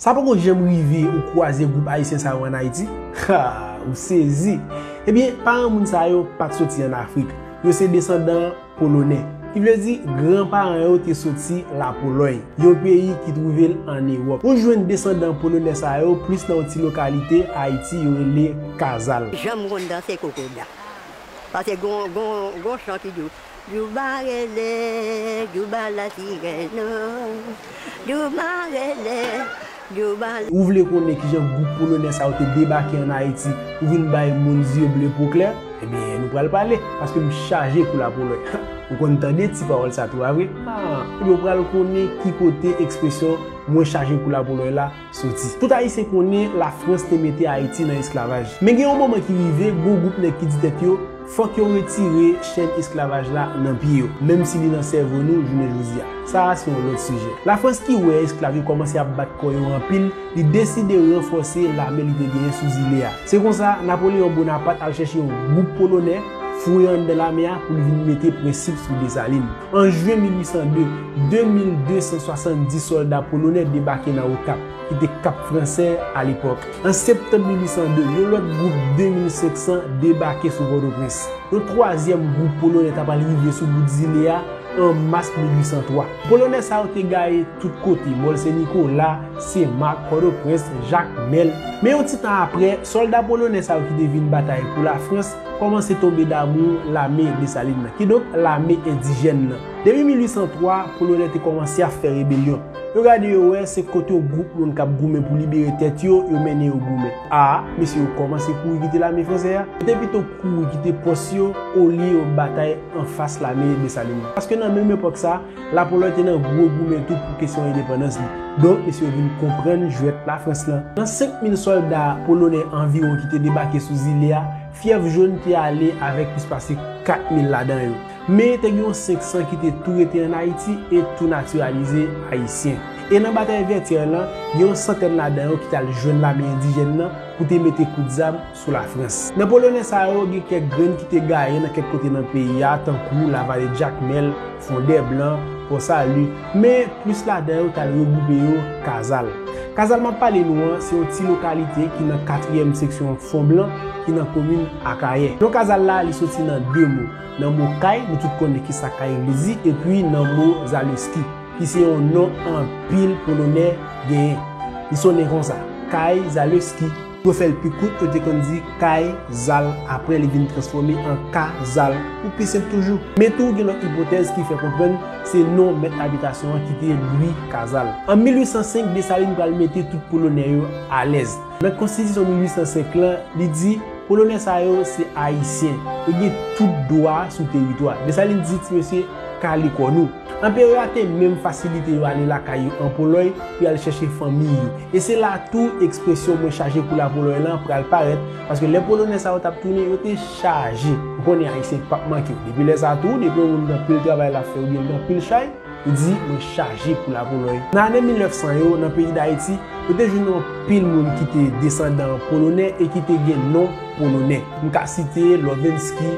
Sa poko janm rive ou kwaze gwoup ayisyen sa yo an Ayiti? Haa! Ou sezi! Ebyen, paran moun sa yo pa t soti an Afrik. Yo se desandan Polonè. Ki vle di, gran paran yo te soti Lapolòy, yon peyi ki twouve l an Ewòp. Ou jwenn desandan Polonè sa yo plis nan yon ti lokalite Ayiti yo rele Kazal. Janm konn danse kokoda. Pase gon chan ki di w. Douba rele, douba la ki rèn oh, douba rele, douba. Ou vle konnen kijan gwoup polonè sa yo te debake an Ayiti pou vin bay moun zye ble po klè? Ebyen nou pral pale, paske m chaje kou lapolòy. Ou konn tande ti pawòl sa tou a vre? Ebyen ou pral konnen ki kote ekspresyon mwen chaje kou lapolòy la soti. Tout Ayisyen konnen Lafrans te mete Ayiti nan esklavaj. Men gen yon moman ki rive, gon gwoup nèg ki di tèt yo, fòk yo retire chenn esklavaj la nan pye yo, menm si li nan sèvo nou jounen jodi a. Sa a se yon lòt sijè. Lafrans ki wè esklav yo kòmanse ap bat kò yo anpil, li deside ranfòse lame li te genyen sou zile a. Se konsa, Napoleyon Bonapat al chèche yon gwoup Polonè, foure anndan lame a pou li vin mete prensip sou Desalin. An jye 1802, 2270 sòlda polonè debake nan Okap, ki te Kap Fransè alepòk. An septanm 1802, yon lòt gwoup 2500 debake sou Pòtoprens. Yon twazyèm gwoup polonè ta pral rive sou bout zile a an mas 1803. Polonè sa yo te gaye tout kote, Mòl Sen Nikola, Sen Mak, Pòtoprens, Jakmèl. Men yon ti tan apre, sòlda polonè sa yo ki te vin batay pou Lafrans, Kòmanse tonbe damou lame Desalin nan, kidonk lame endijèn nan. Depi 1803, Polonè te kòmanse ap fè rebelyon. Yo gade yo wè se kot yon gwoup moun k ap goumen pou libere tèt yo, yo mennen yo goumen. A, mesye yo kòmanse kouri kite lame fransè a. Yo te pito kouri kite pòs yo olye yo batay anfas lame Desalin nan. Paske nan menm epòk sa, Lapolòy te nan gwo goumen tou pou kesyon endepandans li. Donk, mesye yo vin konprann jwèt Lafrans lan. Nan 5 mil sòlda polonè anviwon ki te debake sou zile a, fyèv jòn te ale avèk plis pase 4 mil ladan yo. Men, te gen yon 500 ki te tou rete ann Ayiti e tou natiralize Ayisyen. E nan batay Vètyè lan, gen yon santèn ladan yo ki t al jwenn lame endijèn lan pou te mete kout zam sou Lafrans. Nan Polonè sa yo, gen kèk grenn ki te gaye nan kèk kote nan peyi a, tankou Lavale Jakmèl, Fondèblan, Pò Sali, men plis ladan yo t al regwoupe yo Kazal. Kazal m ap pale nou an, se yon ti lokalite ki nan katriyèm seksyon Fonblan, ki nan komin Akayè. Non Kazal la, li soti nan de mo, nan mo kay, nou tout konnen ki sa kay vle di, epi nan mo Zaleski, ki se yon non anpil Polonè genyen. Li sonnen konsa, Kay Zaleski. Pou yo fè l pi kout, yo te konn di Kay Zal, apre li vin transfòme an Ka Zal, pou pi senp toujou. Men tou gen lòt ipotèz ki fè konprann se non mèt abitasyon an ki te Lwi Kazal. An 1805, Desalin pral mete tout Polonè yo alèz. Nan Konstitisyon 1805 lan, li di, Polonè sa yo se Ayisyen. Yo gen tout dwa sou teritwa. Desalin di, Ti mesye, kale kò nou. Anperè a te menm fasilite yo ale lakay yo an Polòy pou y al chèche fanmi yo. E se la tou ekspresyon mwen chaje pou Lapolòy lan pral parèt, paske lè Polonè sa yo t ap tounen, yo te chaje. Ou konnen Ayisyen pap manke w. Depi lè sa tou, depi yon moun gen anpil travay l ap fè oubyen l gen anpil chay, li di, mwen chaje pou Lapolòy. Nan ane 1900 yo, nan peyi Dayiti, yo te jwenn anpil moun ki te desandan Polonè e ki te gen non Polonè. M ka site Lovinsky,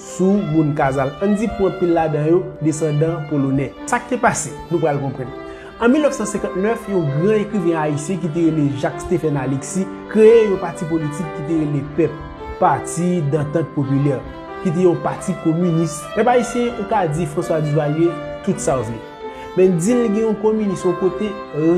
sou moun Kazal. Ann di pou anpil ladan yo desandan Polonè. Sa k te pase? Nou pral konprann. An 1959, yon gran ekriven ayisyen ki te rele Jacques Stephen Alexis kreye yon pati politik ki te rele pep, Parti d'Entente Populaire, ki te yon pati kominis. Pèp ayisyen, ou ka di François Duvalier tout sa w vle. Men di l gen yon kominis yon kote,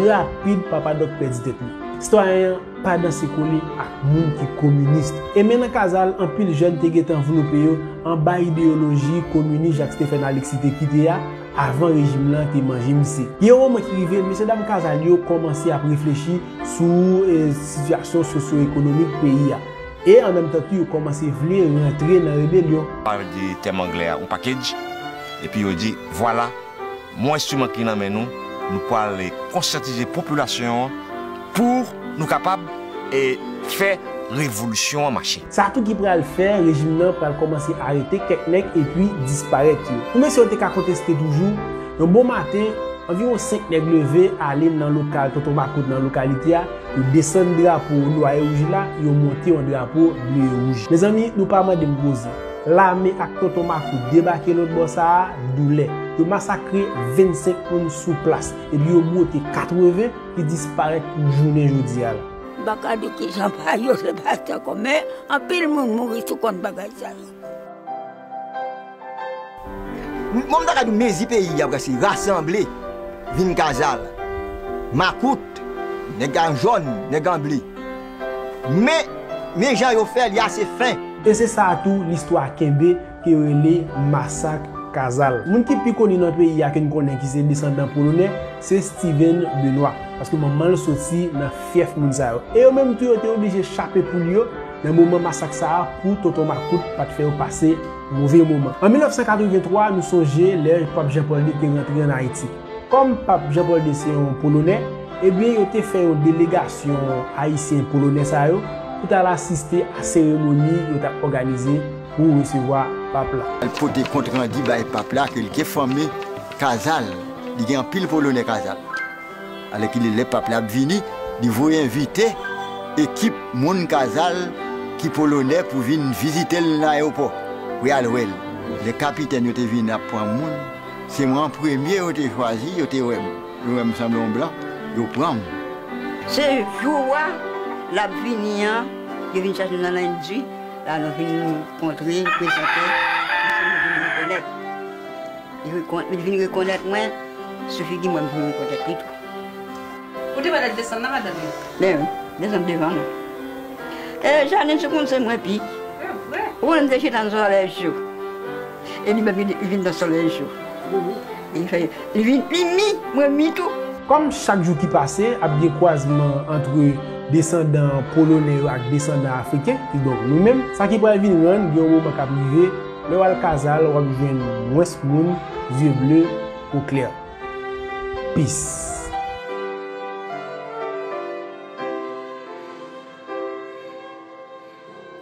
rapid Papa Dòk pèdi tèt li. Sitwayen an. Pa danse kole ak moun ki kominist. E men nan Kazal, anpil jèn te gentan vlope yo anba ideyoloji kominis Jak Stefèn Aleksi te kite a, avan rejim lan te manje misye. Gen yon moman ki rive, mesye dam Kazal yo kòmanse ap reflechi sou sitiyasyon sosyoekonomik peyi a. E an menm tan tou yo kòmanse vle rantre nan rebelyon. Yo di tèm anglè a ou package, epi yo di, Vwala! Mwen enstriman ki nan men nou, nou pwal konsyantize popilasyon an pou nou kapab fè revolisyon an mache. Sa tou ki pral fè rejim nan pral kòmanse arete kèk nèg epi disparèt yo. Pou mesye yo te ka konteste toujou, yon bon maten, anviwon 5 nèg leve ale nan lokal Tonton Makout nan lokalite a, yo desann drapo Nwa e Wouj la, yo monte yon drapo Ble e Wouj. Mezanmi, nou pa mande m koze. Lame ak Tonton Makout debake lotbò sa a, doulè. Yo masakre 25 moun sou plas, epi yo bwote 80 ki disparèt pou jounen jodi a la. M pa ka di ki jan pa yo se pati ankò, men anpil moun mouri sou kont bagay sa yo. Bon m ta ka di w mezi peyi a prèske rasanble vin kazal. Makout, nèg an jòn, nèg an ble. Men, men jan yo fè li a se fen. E se sa a tou listwa kenbe ke yo rele Masak Kazal. Moun ki pi koni nan peyi a ke n konnen ki se desandan Polonè, se Steven Benoît. Paske manman l soti nan fyèf moun sa yo. E yo menm tou yo te oblije chape poul yo nan moman masak sa a pou tonton makout pa t fè yo pase move moman. An 1983, nou sonje lè Pap Jan Pòl ii te rantre ann Ayiti. Kòm Pap Jean Paul ii se yon Polonè, ebyen yo te fè yon delegasyon Ayisyen Polonè sa yo pou t al asiste a seremoni yo t ap òganize pou resevwa Pap la. Al pote kont randi bay Pap la ke li te fòme Kazal. Li gen anpil Polonè Kazal. Alèkile lè Pap la ap vini, li voye envite ekip moun Kazal ki Polonè pou vin vizite l nan ayewopò pou y al wè l. Lè kapitèn yo te vin ap pran moun. Se mwen an premye yo te chwazi, yo te wè m, yo wè m sanble yon blan, yo pran m. Se jou a l ap vini an, yo vin chache m nan Lendwi, la nou vin kontre, m prezante, anpil moun vin rekonèt. Yo vin rekonèt mwen, sou figi mwen m vin rekonèt li tou. Ou te wè lè l desann nan madanm yo? Ben wi, l desann devan mwen. E Janine sou konn se mwen pi. E vre? Ou konn m te chita nan zòrèj yo. E li menm li vin nan solèy jou. Li fè li vin li mi, mwen mi tou. Kòm chak jou ki pase ap gen kwazman antre desandan Polonè yo ak desandan Afriken, kidonk nou menm, sa ki pral vin rann gen yon moman k ap rive, lè w al Kazal w ap jwenn mwens moun zye ble, po klè. Peace.